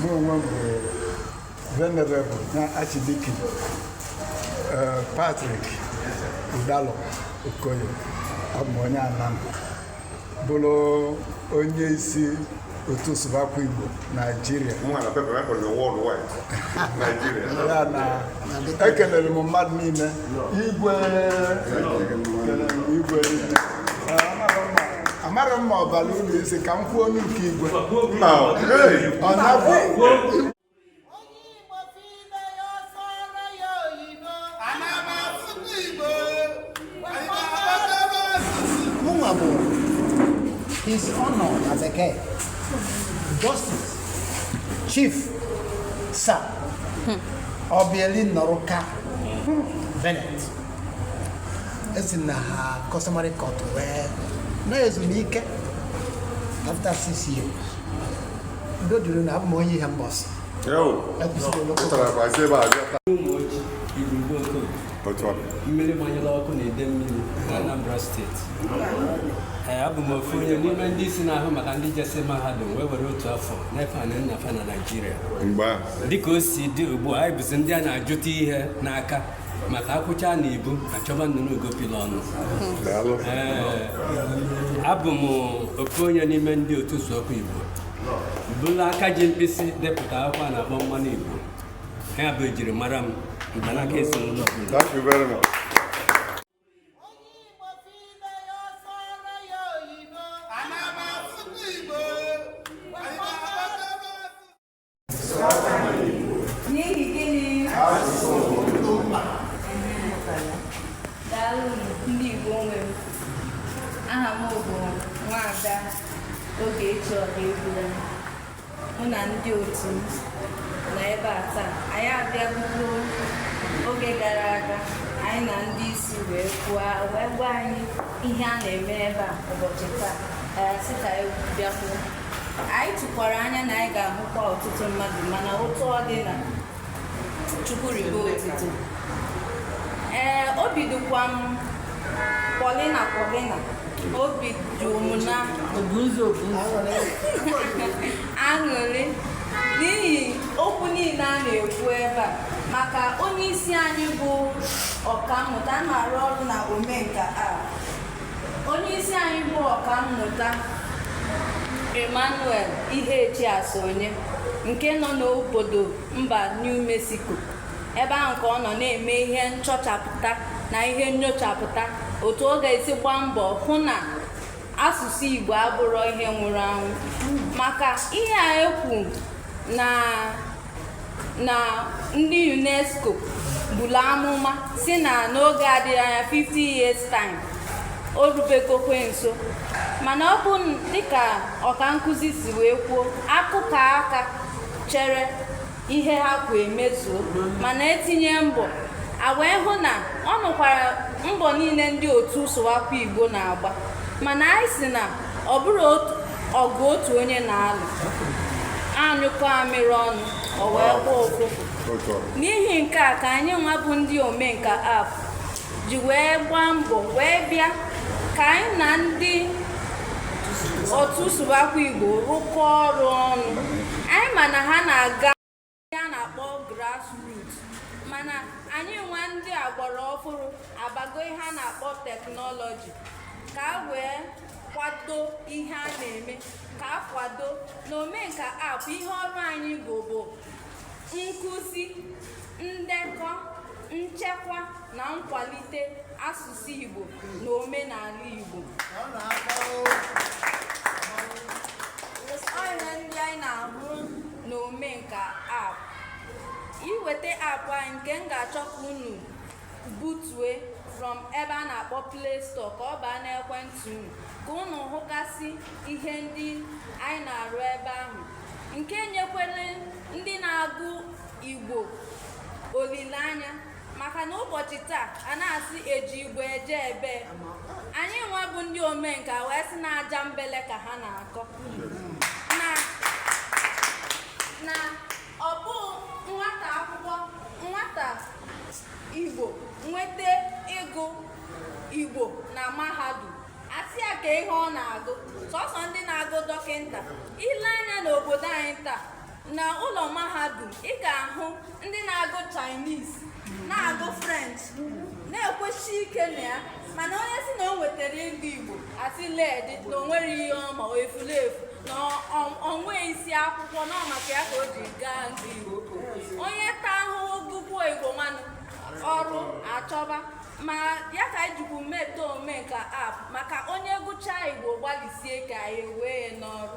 mụ onwe m bụ Venerable na Archdeacon eh, Patrick Udalo Okoye abụ m onye Anam bụrụ onye isi otu Sụbakwa Igbo Naijiria Mụ na pepa pepa na worldwide Nigeria. ya na ekelere m mmadụ niile igwe kelere m igwe niile amarọ m ma ọ bara unu isi ka m kwuo onye nke igwe ọ na-abụ Mụnwa bụ his honor na-ezu ike, justice, chief, sir, Obieli Nnọrụka Bennett. esi na customary court wee naa ezumike after six years udo dịrị unu abụ m onye Ihembọsị mmiri gbanyere ọkụ na Idemmiri na Anambra steeti ee abụ m ofu onye n'ime ndị isi na-ahụ maka ndị jesi mahadum wee were otu afọ na-efe anị nna fa na Naịjirịa dịka o si dị ugbu a anyị bụzi ndị a na-ajụta ihe n'aka maka akwụcha na ibu achọba nnụnụ ugopila ọnụ abụ m ofu onye n'ime ndị otu Sụbakwa Igbo bụlụ aka ji mkpịsị depụta akwụkwọ a na-akpọ mmanụ Igbo ya bụ ejiri mara m mgbanaka ezinụlọ N'ihi gịnị? Daalụ ndị Igbo nwe m. Aha m bụ Nwaada Ogechi Ọhaegbulam. Mụ na ndị otu m nọ ebe a taa. Anyị abịabugo oge gara aga anyị na ndị isi wee kwuo wee gwa anyị ihe a na-eme ebe a ụbọchị taa. Anyị asị ka anyị bịakwuo. anyị tụkwara anya na anyị ga-ahụkwa ọtụtụ mmadụ mana otu ọ dị na chukwu ribe otito ee obi dịkwa m pọlịna pọlịna obi juru m na aṅụrị n'ihi okwu niile a na-ekwu ebe a maka onye isi anyị bụ ọkammụta na-arụ ọrụ na omenka a onye isi anyị bụ ọkammụta Emmanuel Ihechi Asonye nke nọ n'obodo mba New Mexico ebe ahụ ka ọ nọ na-eme ihe nchọchapụta na ihe nnyochapụta otu ọ ga-esi gbaa mbọ hụ na asụsụ Igbo abụrọ ihe nwụrụ anwụ maka ihe a ekwu na na ndị unesco buru amụma sị na n'oge adịghị anya 50 years time o rubegokwe nso mana ọ bụ dịka ọkankuzi si wee kwuo akụkọ aka chere ihe ha kwu emezuo mana etinye mbọ a wee hụ na ọ nụkwara mbọ niile ndị otu sụwakwa igbo na-agba mana anyị si na ọ bụrọ ọgụ otu onye na-alụ a nyụkọọ amịrị ọnụ o wee gbọọ ụfụfụ n'ihi nke a ka anyị nwa bụ ndị omenka app ji wee gbaa mbọ wee bịa ka anyị na ndị otu sụbakwa igbo rụkọọ ọrụ ọnụ anyị ma na ha na-aga ihe a na-akpọ grassroot mana anyị nwa ndị agbara ọfụrụ abago ihe a na-akpọ teknọlọji ka a wee kwado ihe a na-eme ka a kwado na omenka app ihe ọrụ anyị bụ bụ nkụzi ndekọ nchekwa na nkwalite asụsụ asụsụ Igbo na omenala Igbo ihe ndị anyị na-ahụ na omenka app iweta app anyị nke m ga-achọ ka unu butue from ebe a na-akpọ play store ka ọ baa n'ekwentị unu ka unu hụgasị ihe ndị anyị na-arụ ebe ahụ nke nyekwere ndị na-agụ igbo olileanya maka na ụbọchị taa a na-asị e ji Igbo eje ebee anyị nwa bụ ndị omenka wee sị na aja mbele ka ha na-akọ na ọ bụ nwata akwụkwọ nwata igbo nweta ịgụ igbo na mahadum a sị ya kee ihe ọ na-agụ sọsọ ndị na-agụ dọkịta i lee anya n'obodo anyị taa na ụlọ mahadum ị ga-ahụ ndị na-agụ Chinese na-agụ French na-ekwesi ike na ya mana onye sị na o nwetara ịgụ Igbo a sị leedị na o nwerọ ihe ọ ma efulefu na o nweghị isi akwụkwọ na maka ya ka o ji gaa nke Igbo onye taa ahụhụ gụkwuo Igbo nwanụ ọrụ achọba ma ya ka anyị jikwu meta Omenka app maka onye gụchaa Igbo gbalịsie ka anyị wee ya n'ọrụ